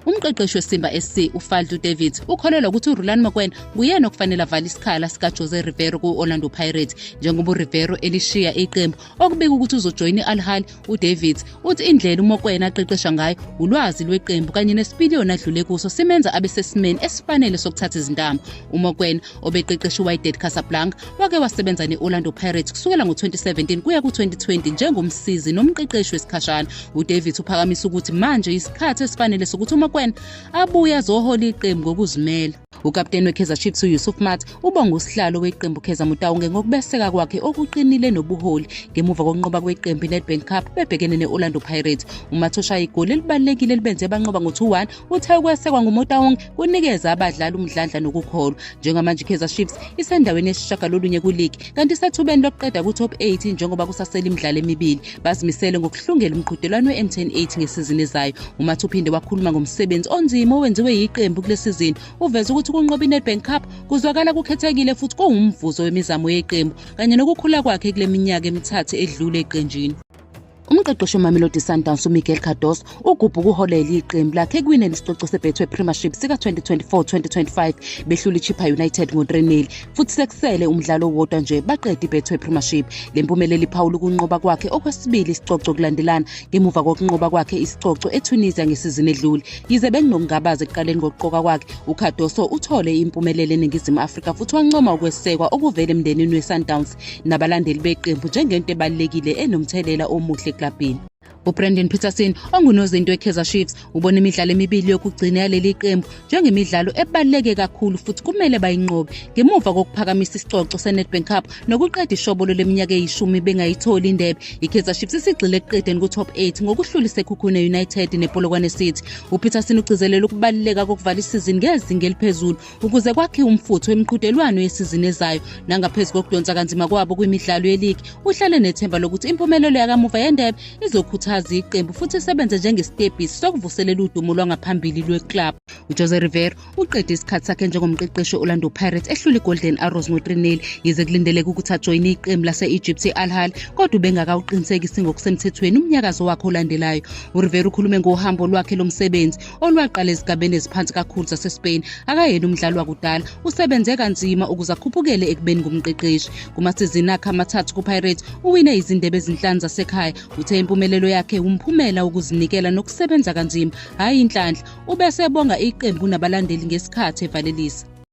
Umqeqeshi weSimba SC uFadlu Davids ukholelwa ukuthi uRulani Mokwena nguyena okufanele avale isikhala sikaJose Rivero ku-Orlando Pirates njengoba uRivero elishiya iqembu okubika ukuthi uzojoyina i-Al Ahly uDavids uthi indlela uMokwena aqeqesha ngayo ulwazi lweqembu kanye nesipiliyoni adlule kuso simenza abe sesimeni esifanele sokuthatha izintambo uMokwena obeqeqesha iwydad casablanca wake wasebenza ne-orlando pirates kusukela ngo-2017 kuya ku-2020 njengomsizi nomqeqeshi wesikhashana udavid uphakamisa ukuthi manje yisikhathi esifanele sokuthi umokwena abuye azohola iqembu ngokuzimela ukapteni wekaizer chiefs uyusuf mat ubonga usihlalo weqembu kaizer mutawunge ngokubeseka kwakhe okuqinile nobuholi ngemuva kokunqoba kweqembu inedbank cup bebhekene ne-orlando pirates umat oshaya igoli elibalulekile elibenze banqoba ngo-2-1 Uthe ukwesekwa nguMotaung kunikeza abadlali umdlandla nokukholwa. Njengamanje iKaizer Chiefs isendaweni yesishagalolunye kuligi kanti isethubeni lokuqeda ku-top 8 njengoba kusasele imidlalo emibili. Bazimisele ngokuhlungela umqhudelwano we-M10 8 ngesizini ezayo. UMathi uphinde wakhuluma ngomsebenzi onzima owenziwe yiqembu kule sizini. Uveze ukuthi ukunqoba iNedbank Cup kuzwakala kukhethekile futhi kuwumvuzo wemizamo yeqembu kanye nokukhula kwakhe kule minyaka emithathu edlule eqenjini. Umqeqeshi weMamelodi Sundowns uMiguel Cardoso ugubha ukuholela iqembu lakhe ekuwineni isicoco seBetway Premiership sika-2024-2025 behlula iChippa United ngo-3-0 futhi sekusele umdlalo owodwa nje baqede iBetway Premiership. Le mpumelelo iphawula ukunqoba kwakhe okwesibili isicoco kulandelana ngemuva kokunqoba kwakhe isicoco eTunisia ngesizini edlule. Yize bekunokungabaza ekuqaleni kokuqoka kwakhe, uCardoso uthole impumelelo eNingizimu Afrika futhi wancoma ukwesekwa okuvela emndenini weSundowns. nabalandeli beqembu njengento ebalulekile enomthelela omuhle eklabhini ubrandon peterson ongunozinto wekaizer chiefs ubona imidlalo emibili yokugcina yaleli qembu njengemidlalo ebaluleke kakhulu futhi kumele bayinqobe ngemuva kokuphakamisa isicoco senedbank cup nokuqeda ishobolo leminyaka eyishumi bengayitholi indebe ikaizer chiefs isigxile ekuqedeni ku-top 8 ngokuhlula isekhukhune united nepolokwane city upeterson ugcizelela ukubaluleka kokuvala isizini ngezinga eliphezulu ukuze kwakhiwe umfutho emiqhudelwano yesizini ezayo nangaphezu kokudonsa kanzima kwabo kwimidlalo yeligi uhlale nethemba lokuthi impumelelo yakamuva yendebe izokhuthaza iqembu futhi isebenze njengesitebhisi sokuvuselela udumo lwangaphambili lweklabhu ujose rivero uqede isikhathi sakhe njengomqeqeshi we-orlando pirates ehlula igolden arrows ngo-3 yize kulindeleke ukuthi ajoyine iqembu lase-egypt i-alhal kodwa ubengakawuqinisekisi ngokusemthethweni umnyakazo wakhe olandelayo urivero ukhulume ngohambo lwakhe lomsebenzi olwaqala ezigabeni eziphansi kakhulu zaseSpain akayena umdlali wakudala usebenze kanzima ukuze akhuphukele ekubeni ngumqeqeshi kumasizini akhe amathathu kuPirates uwine izindebe ezinhlanu zasekhaya uthe impumelelo yakhe wumphumela wokuzinikela nokusebenza kanzima hhayi inhlanhla ubesebonga iqembu nabalandeli ngesikhathi evalelisa